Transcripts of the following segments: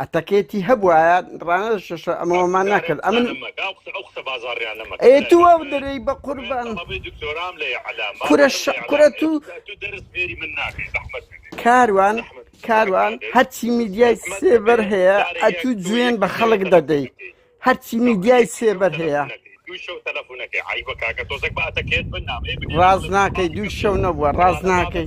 ئەتەکێتی هەبوایە ڕانەشە ئەمەمان ناکرد ئەمن قسە بازاڕیانەمە ئەتووە دەرەی بە قوربان دکتۆرام لە کورە کورە تو کاروان کاروان هەرچی میدیای سێبەر هەیە ئەتو جوێن بە خەڵک دەدەی هەرچی میدیای سێبەر هەیە ڕاز ناکەی دوو شەو نەبووە ڕاز ناکەی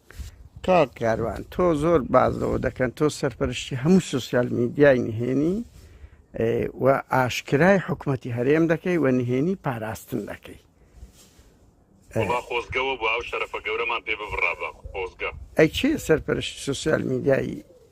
کاک کاروان تۆ زۆر باز لەوە دەکەن تۆ سەرپەرشتی هەموو سوسیال میدیای نهێنی و ئاشکرای حکوومەتی هەرێم دەکەی و نهێنی پاراستن دەکەی خۆزگەوە بۆ ئەو شەرەفە گەورەمان پێ ببڕابە خۆزگە ئەی چێ سەرپەرشتی سوسیال میدیایی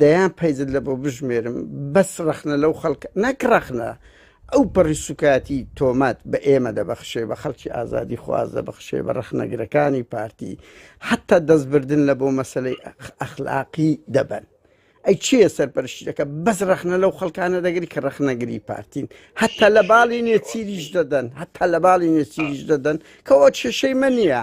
دەیان پەیجت لەبۆ بژمێرم بەس ڕەخنە لەو خەڵک نەک ڕەخنە ئەو پەڕی سوکایەتی تۆمەت بە ئێمە دەبەخشێ بە خەڵکی ئازادی خواز دەبەخشێ بە ڕەخنەگرەکانی پارتی حتا دەستبردن لە بۆ مەسلەی ئەخلاقی دەبن ئەی چیە سەرپەرشتی دەکە بەس ڕەخنە لەو خەڵکانە دەگری کە ڕەخنەگری پارتین هەتا لە باڵی نێچیریش دەدەن هەتا لە باڵی نێچیریش دەدەن کەەوە کێشەی مە نییە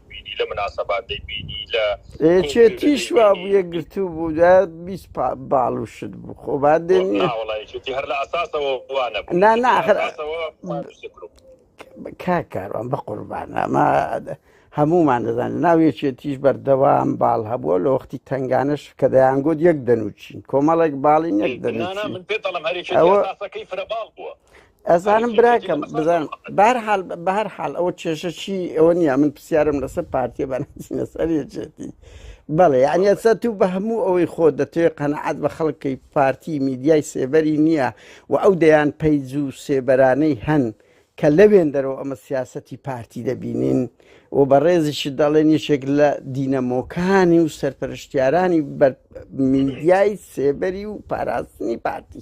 بینی لە مناسەبات دەیبینی لە یەکێتیش وابوو یەکگرتوو بوو دا بیست باڵ و شت بوو خۆ با دێنی ناوەڵا یەکێتی هەر لە ئەساسەوە وانە بوو نا نا هەر کا کاروان بە قوربان ئەمە هەمومان دەزانین ناو یەکێتیش بەردەوام باڵ هەبووە لە وەختی تنگانەش کە دەیانگوت یەک دەنوچین کۆمەڵێک باڵین یەک دەنوچین من پێ دەڵم هەرێکی ئەوەکەی فرە باڵ بووە ئەزانم براکەم بزان بار حال بەهر حال ئەوە کێشە چی ئەوە نیە من پرسیارم لەسەر پارتیە بەناسینە سەرێتی بەڵێ یعنی ئەسا تو بە هەموو ئەوەی خۆ دەتوێ قەنەعات بە خەڵکی پارتی میدیای سێبەری نییە و ئەو دەیان پەیج و سێبەرانەی هەن کە لەوێن دەرەوە ئەمە سیاستی پارتی دەبینین و بە ڕێزیشی دەڵێن یەکێک لە دینەمۆکانی و سەرپەرشتیارانی بەر میدیای سێبەری و پاراستنی پارتی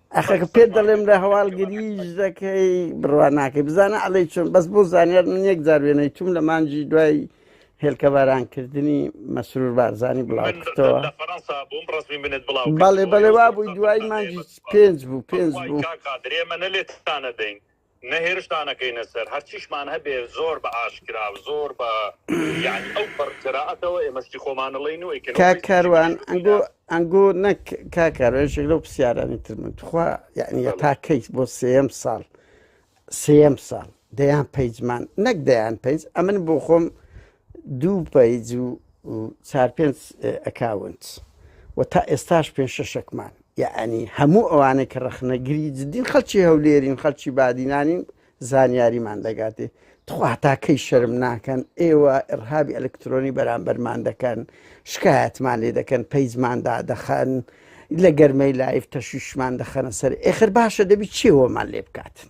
ئەخەکە پێت دەڵێم لە هەواڵ گریژ دەکەی بڕوا ناکەی بزانە ئەڵی چۆن بەس بۆ زانیار من یەک جار وێنەی توم لە مانجی دوای هێلکەبارانکردنی مەسرور بارزانانی بڵاو کرتەوە بەڵێ بەڵێ وا بووی دوای مانجی پێنج بوو پێنج بوو. نە هێرشتان ئەکەینە سەر، هەرچیشمان هەبێ زۆر بە ئاشکرا و زۆر بە یانی ئەو پەڕ جەرائەتەوە ئێمە شتی خۆمان ئەڵێین و ئەیکەین و کاک هیچ کاروان شتێکی ئەنگۆ دیکە ئەنگۆ نەک کاک کاروان یەکێک لەو پرسیارانی تر من توخوا یعنی بەڵێ تا کەیت بۆ سێەم ساڵ سێەم ساڵ دەیان پەیجمان نەک دەیان پەیج ئەمن بۆ خۆم دوو پەیج و چار پێنج ئەکاونت و تا ئێستاش پێ شەشەکمان یعنی هەموو ئەوانە کە ڕەخنەگری جدین خەلکی هەولێرین خەلکی بادینانین زانیاریمان دەگاتێ تخواتاکەی شەرم ناکەن ئێوە ئڕهابی ئەلکترۆنی بەرامبەرمان دەکەن شکایەتمان لێ دەکەن پەیجماندا دەخەن لە گەرمەی لایف تەشویشمان دەخەنە سەر ئێخر باشە دەبی چێوەمان لێ بکاتن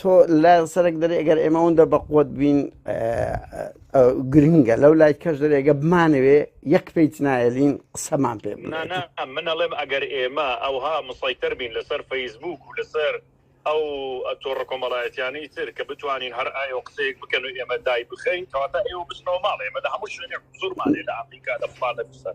تۆ لە سەرک دەری ئەگەر ئێمە ئەوەندە بەقوت بین گرنگە لەو لای کەش دەرێگە بمانەوێ یەک پیت نایلین قسەمان پێ من ئەڵێم ئەگەر ئێمە ئەوها مسەیتەر بین لەسەر فەیسبوک و لەسەر ئەو تۆڕە کۆمەڵایەتیانی تر کە بتوانین هەر ئایا و قسەیەک بکەن و ئێمە دای بخەین کەواتە ئێوە بچنەوە ماڵ ئێمە لە هەموو شوێنێک زورمانێ لە ئەمریکا لە فڵانە بسەر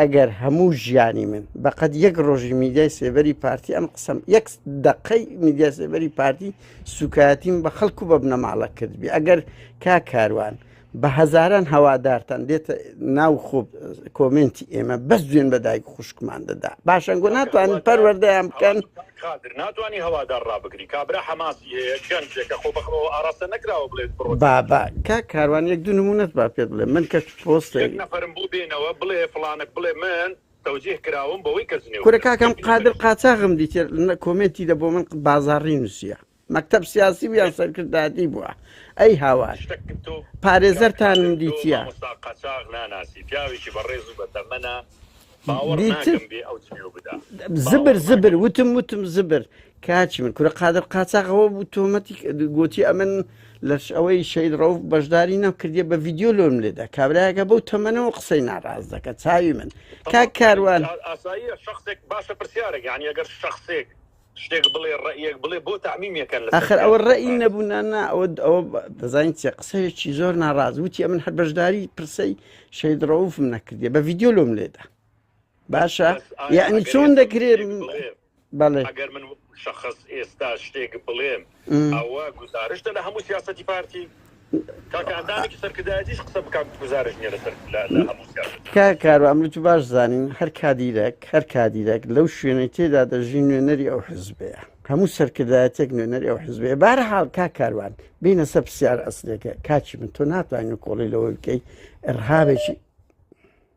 ئەگەر هەموو ژیانی من بەقەد یەک ڕۆژی میدیای سێبەری پارتی ئەم قسەم یەک دقەی میدیا سێبەری پارتی سوکایەتیم بە خەڵک و بە بنەماڵە کردبی ئەگەر کا کاروان بە هەزاران هەوادارتان دێتە ناو خۆب کۆمنتی ئێمە بەس دوێن بە دایک خوشکمان دەدا باشەنگۆ ناتوانین پەروەردەیان بکەن ناتوانانی هەوادار ڕابگری کابرا حەماسی هەیە گەنجێکە خۆ بەخەوە ئاراستە نەکراوە بڵێت بابا کا کاروان یەک دو نمونەت با پێت بڵێ من کە یەک نەفەرم بۆ بێنەوە بڵێ فڵانک بڵێ من تەوجیه کراوم بەوەی کەس جنێو کورە کاکە ئەم قادر قاچاغم دیتێ کۆمێنتی دە بۆ من بازاڕی نووسە مەکتب سیاسی ویان سەرکردادی بووە ئەی هاوار پارێزەرتانم دیتە قاچاغ ناناسی پیاوێکی بەڕێز و بەتەمەە باوەڕ ناکەم بێ ئەو جوێو بدا زبر زبر وتم وتم زبر کاچی من کورە قادر قاچاقەوە بوو تۆمەتی گوتی ئەمن لەش ئەوەی شەید ڕەوف بەشداری نەم کردیە بە ڤیددیو لۆم لێدا کابراەکە بەو تەمەنەوە قسەی ناڕاز دەکە چاوی من کاک کاروان ئاساییە شخصێک باشە پرسیارێک یعنی ئەگەر شخصێک شتێک بڵێ ڕێیەک بڵێ بۆ تعمیمیەکەن لە ئەخر ئەوە ڕێی نەبوو نانا ئەوە ئەوە دەزانین چێ قسەیەکی زۆر ناڕاز وتی ئەمن هەر بەشداری پرسەی شەید ڕەوفم نەکردێ بە ڤیددیو لۆم لێدا باشە یعنی چۆن دەکرێت بەڵێ ئەگەر من شخص ئێستا شتێک بڵێم ئەوە گوزارشتە لە هەموو سیاسەتی پارتی؟ کاکە ئەندامێکی سەرکردایەتیش قسە بکات گوزارش نیە لەسەر لە هەموو سیاسەت. تکایە کارو ئەمر تو باش زانین هەر کادیرەک هەر کادیرەک لەو شوێنەی تێدا دەژی نوێنەری ئەو حزبەیە هەموو سەرکردایەتێک نوێنەری ئەو حزبەیە بارە حاڵ کا کاروان بینە سە پرسیار ئەسلێکە کاچی من تۆ ناتوانین کۆڵی لەوەی بکەی ئەرهابێکی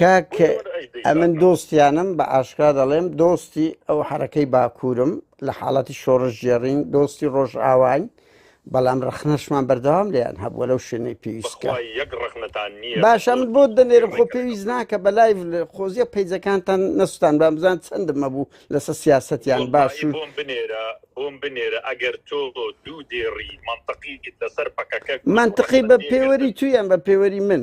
کاک ئەمن دۆستیانم بە ئاشکرا دەڵێم دۆستی ئەو حرەکەی باکوورم لە حاڵەتی شۆڕش جێڕین دۆستی ڕۆژ ئاواین بەڵام ڕخنەشمان بەردەوام لێیان هەبووە لەو شوێنەی پێویستکە باشە من بۆ دەنێرم خۆ پێویست ناکە بە لای خۆزیە پیجەکانتان نەستان بە بزان چەندم مەبوو لەسە سیاستیان باش بۆم بنێرە بۆم بنێرە ئەگەر تۆ دوو دێڕی منطقی لەسەر پەکەکە منطقی بە پێوەری تویان بە پێوەری من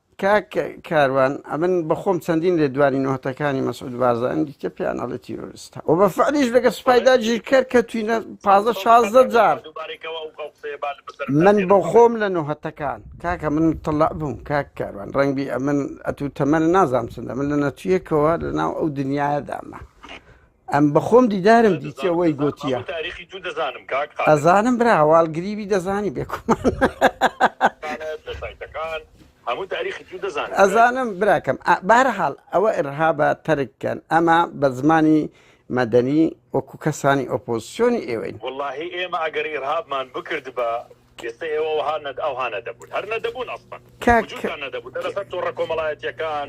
کاک کاروان ئەمن بەخۆم چەندین لێدوانی نۆهتەکانی مەسعود بارزانی دیتە پێیان ئەڵێ تیرۆریستە و بە فعلیش لەگە سوپای داگیرکەر کە توینە پازە شازدە جار من بەخۆم لە نۆهتەکان کاکە من تەڵع بووم کاک کاروان ڕەنگبی ئەمن ئەتو تەمەە نازام چندە من لە نەتویەکەوە لەناو ئەو دنیاە دامە ئەم بەخۆم دیدارم دیتە وەی گۆتیە ئەزانم برا هەواڵ گریبی دەزانی بێکمان ئەزانم براکەم بارەحاڵ ئەوە ئرهابە تەرککەن ئەمە بە زمانی مەدەنی وەکو کەسانی ئۆپۆزیسیۆنی ئێوەین واللهی ئێمە ئەگەر ئرهابمان بکرد بە ئێستا ئێوە وهانەت ئەو هاانە دەبوون هەر نەدەبوون ئەسڵەن کاکە کۆمەڵایەتەکان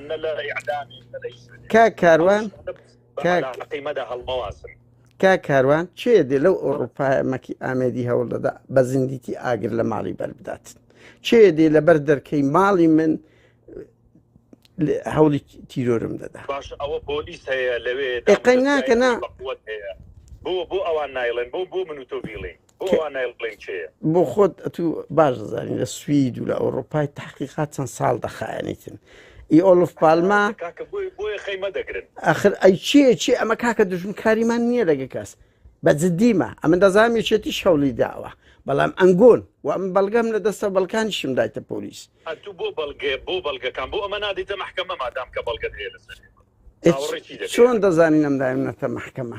کاک کاروان کاک کاروان چێ دێ لەو ئەوروپایە مەکی ئامێدی هەوڵ دەدا بە زیندیتی ئاگر لە ماڵی بەربدات چێ دێ لەبەر دەرکەی ماڵی من هەوڵی تیرۆرم دەدا ئەوە پۆلیس هەیە لەوێ ناکەنا بۆ بۆ ئەوان نایڵێن بۆ بۆ من و تۆ بیڵێ بۆ خۆت ئەتو باش دەزانین لە سوید و لە ئەوروپای تحقیقات چەند ساڵ دەخایەنیتن ئی ئۆلف پالما ئەخر ئەی چێ چێ ئەمە کاکە دژمکاریمان نییە لەگە کەس بە جددیمە ئەمە دەزانام یەکێتی شەڵی داوە بەڵام ئەنگۆن و ئەم بەڵگەم لە دەستە بەڵکانیشم دایتە پۆلیس بۆ بەڵگێ بۆ بەڵگەکان بۆ ئەمە نادیتە محکەمە مادام کە بەڵگەت هەیە لەسەر چۆن دەزانین ئەم دایم نەتە محکەمە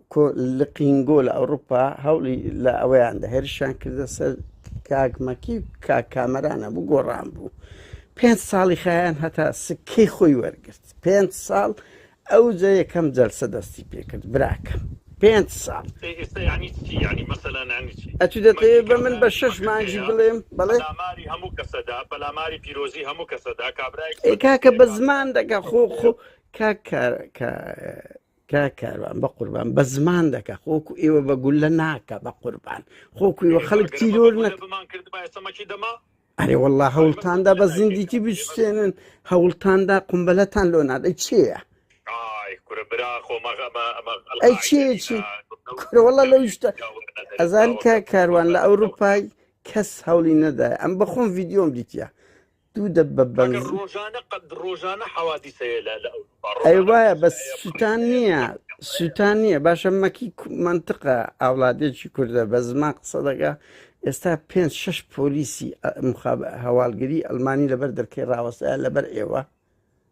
لقینگۆ لە ئەوروپا هەوڵی لە ئەوەیان دە هێرشیان کردە سەر کاکمەکی و کاک کامەرانە بوو گۆڕان بوو پێنج ساڵی خیان هەتا سکەی خۆی وەرگرت پێنج ساڵ ئەو جە یەکەم جەلسە دەستی پێکرد براکەم پێنج ساڵ ئەتو دەتەوێ بە من بە شەش مانگی بڵێم بەڵێ ئەی کاکە بە زمان دەکە خۆ خۆ کاک کارەکە کاک کاروان بەقوربان بە زمان دەکە خۆکو ئێوە بە گولە ناکە بە قوربان خۆکو ئێوە خەڵک تیرۆر نەک ئەرێ والله هەوڵتاندا بە زیندیکی بشتێنن هەوڵتاندا قمبلەتان لۆ نادە چێە ئەی چێچی کوڕەوەڵە لەو شتە ئەزان کە کاروان لە ئەوروپای کەس هەوڵی نەدای ئەم بەخۆم ڤیددیۆم دیتە دوو دەبە بەنزین ڕۆژانە حوادیسە ئەی وایە بەس سووتان نییە سووتان نییە باشە مەکی منطقە ئاولادێکی کوردە بە زمان قسە دەگا ئێستا پێ شش پۆلیسی هەواڵگری ئەلمانی لەبەر دەرکەی ڕاوەستە لەبەر ئێوە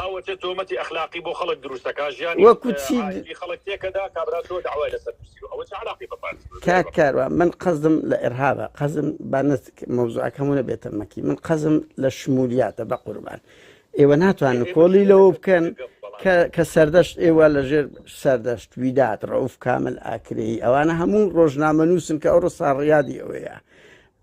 ئەوەتە تۆمەتی ئەخلاقی بۆ خەڵک دروست دەکات ژیانی وەکو چی د- عائیلی خەڵک تێکەدا کابرا تۆ داوای لەسەر نووسیوە ئەوە چ عەلاقەی بە پارتی بە کاک کاروان من قەزم لە ئرهابە قەزم با نەت مەوزوعەکەمو نەبێتە مەکی من قەزم لە شمولیاتە بە قوربان ئێوە ناتوان نکۆڵی لەوە بکەن کە کە سەردەشت ئێوە لە ژێر سەردەشت ویدات ڕەوف کامل ئاکرەیی ئەوانە هەموو ڕۆژنامە نووسن کە ئەو ڕسا ڕیادی ئەوەیە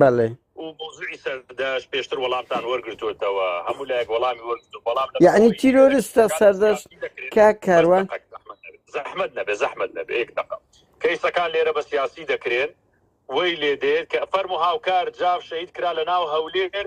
بەڵێ و موزوعی سەردەش پێشتر وەڵامتان وەرگتوتەوە هەموو لایەک وەڵامی وەرگتو بەڵام لەبەر یعنی ئەوەی ئێرە تیرۆرستە کەیسەکانی سەردەشت سیاسی دەکرێت کا بەس کاروان دقەک زەحمەت نەبێت زەحمەت نەبێت زەحمەت نەبێت یەک دقە کەیسەکان لێرە بە سیاسی دەکرێن وەی لێ دێت کە فەرمو هاوکار جاف شەهید کرا لە ناو هەولێر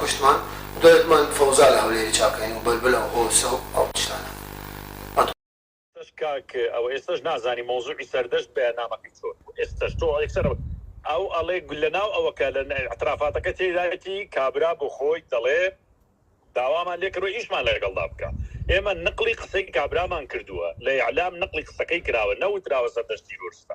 کوشتمان دوای بمان فەوزا لە هەولێری چاکەین و بەلبلە و هۆسە و ئەو تشتانە. ئێستەش کاک ئەوە ئێستەش نازانی مەوزوعی سەردەشت بەیانامەکەی چۆن بوو ئێستەش تۆ یەکسەر ئەو ئەڵێ لەناو ئەوە کە لە ئیعترافاتەکە تێدایەتی کابرا بۆ خۆی دەڵێ داوامان لێ کردوە ئیشمان لەگەڵدا بکا ئێمە نقڵی قسەی کابرامان کردوە لە ئیعلام نقڵی قسەکەی کراوە نەوتراوە سەردەشت تیرۆرستە.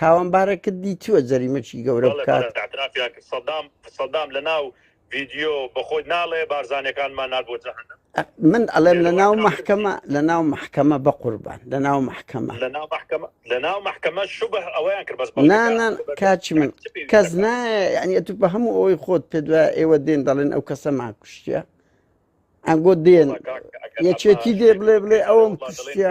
تاوانبارەکردی چووە جەریمەکی گەورە بکات. سەدام سەدام لە ناو ڤیدیۆ بەخۆت ناڵێ بارزانەکانمان نار بۆ جەهەنم من ئەڵێم لە ناو محکەمە لە ناو محکەمە بە قوربان لە ناو محکەمە لە ناو محکەمە شوبه ئەویان کرد بەس نانان کاچی من کەس نایە تو بە هەموو ئەوەی خۆت پێ دوای ئێوە دێن دەڵێن ئەو کەسە ما کوشتە ئەنگۆ دێن یەکێتی دێ بڵێ بڵێ ئەوم کوشتە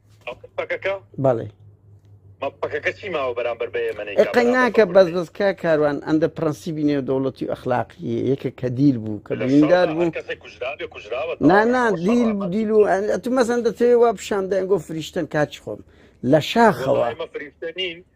بەڵێ قەناکە بەس بەسکە کاروان ئەندە پرەنسیبی نێو دەوڵەتی و ئەخلاقی یەکە کە دیل بوو کە بەیندار بوو نانا دیل دیل و ئەتو مەزەن دەتەوێ وا پیششان دەنگۆ فریشتن کاچ خۆم لە شاخەوە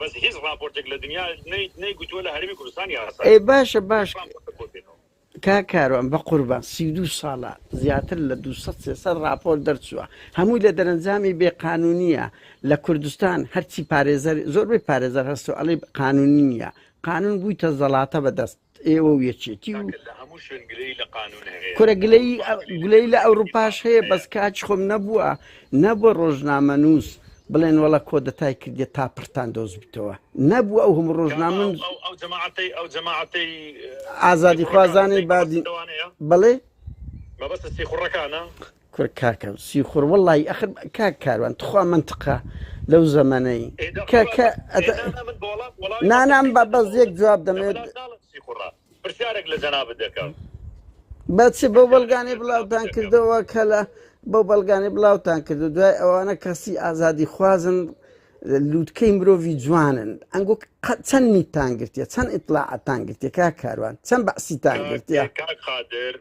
بەس هیچ ڕاپۆرتێک لە دنیا نەیت نەیگوتووە لە هەرێمی کوردستان یاسایە ئەی باشە باش هیچ ڕاپۆرتێک بۆ بێنەوە. کاک کاروان بەقوربان سی و دوو ساڵە زیاتر لە دوو سەد سێ سەد ڕاپۆرت دەرچووە هەمووی لە دەرەنجامی بێ قانونیە لە کوردستان هەرچی پارێزەر زۆربەی پارێزەر هەستۆ ئەڵی قانونی نیە قانون بوویتە زەڵاتە بەدەست ئێوە و یەکێتی و کورە گلەی گلەی لە ئەوروپاش هەیە بەس کاچ خۆم نەبووە نەبووە ڕۆژنامە نووس بڵێن وڵە کۆدەتای کردێت تا پرتان دۆز بتەوە نەبوو ئەو هەموو ڕۆژنامن ئازادی خوازانەی بادی بڵێ کورە کاکە سیخوڕ وەڵایی ئەخر کاک کاروان تخوا مەنتقە لەو زەمەنەی کە کە ئەتە نانام با بەس یەک جواب دەمێت پرسیارێک لە جەنابت دەکەم بەچێ بەو بەڵگانەی بڵاوتان کردەوە کە لە بەو بەڵگانەی بڵاوتان کردو دوای ئەوانە کەسی ئازادی خوازن لووتکەی مرۆڤی جوانن ئەنگۆ چەند نیتان گرتیە چەند ئیتلاعاتان گرتێکا کاروان چەند بەسیتان گرتیە قادر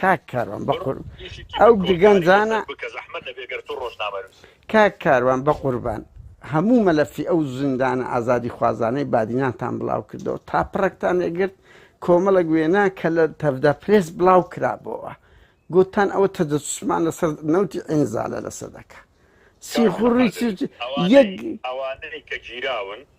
کاک کاروان بە قور ئەو گەنجانە کاک کاروان بە قوربان هەموو مەلەفی ئەو زیندانە ئازادی خوازانەی بادینانتان بڵاو کردەوە تا پڕێکتان نەگرت کۆمەڵک وێنا کە لە تەفدا پرێس بڵاو کرابەوە گوتان ئەوە تەجەسوسمان لەسەر نەوتی ئینزالە لەسەر دەکە سیخوڕی یەک ئەوانەی کە گیراون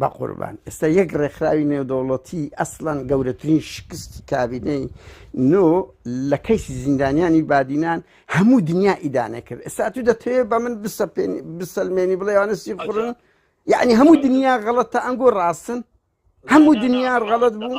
بەقوربان ئێستا یەک ڕێکخراوی نێودەوڵەتی ئەسلەن گەورەترین شکستی کابینەی نۆ لە کەیسی زیندانیانی بادینان هەموو دنیا ئیدانە کرد ئێستا تو دەتەوێت بە من بسەلمێنی بڵێوانە سی قڕن یعنی هەموو دنیا غەڵەتە ئەنگۆ ڕاستن هەموو دنیا غەڵت بوو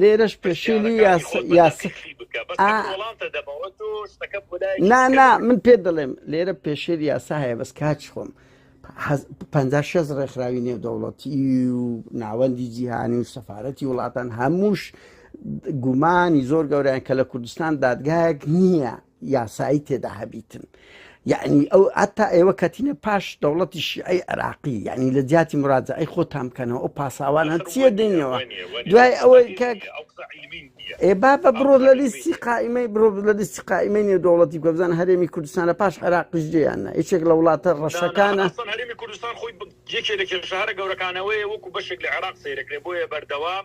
لێرەش پێشێلی نانا من پێ دەڵێم لێرە پێشێل یاسا هەیە بەس کاچ خۆم پ شەز ڕێکخراوی نێودەوڵەتی و ناوەندی جیهانی و سەفاەتی وڵاتان هەمووش گومانی زۆر گەوریان کە لە کوردستان دادگایەک نییە یاسایی تێدا هەبیتن یەعنی ئەو ئەتا ئێوە کەتینە پاش دەوڵەتی شیعی عێراقی یعنی لە جیاتی مراجعی خۆتان بکەنەوە ئەو پاساوانە چیە دێنەوە دوای ئەوەی کە ئێ با بە بڕۆ لە لیستی قائیمەی بڕۆ لە لیستی قائیمەی نێو دەوڵەتی گۆبزان هەرێمی کوردستان لە پاش عێراقیش جێیان نە یەکێک لە وڵاتە ڕەشەکانە هەرێمی کوردستان خۆی یەکێ لە کێشارە گەورەکانەوەی وەکو بەشێک لە عێراق سەیرەکرێ بۆیە بەردەوام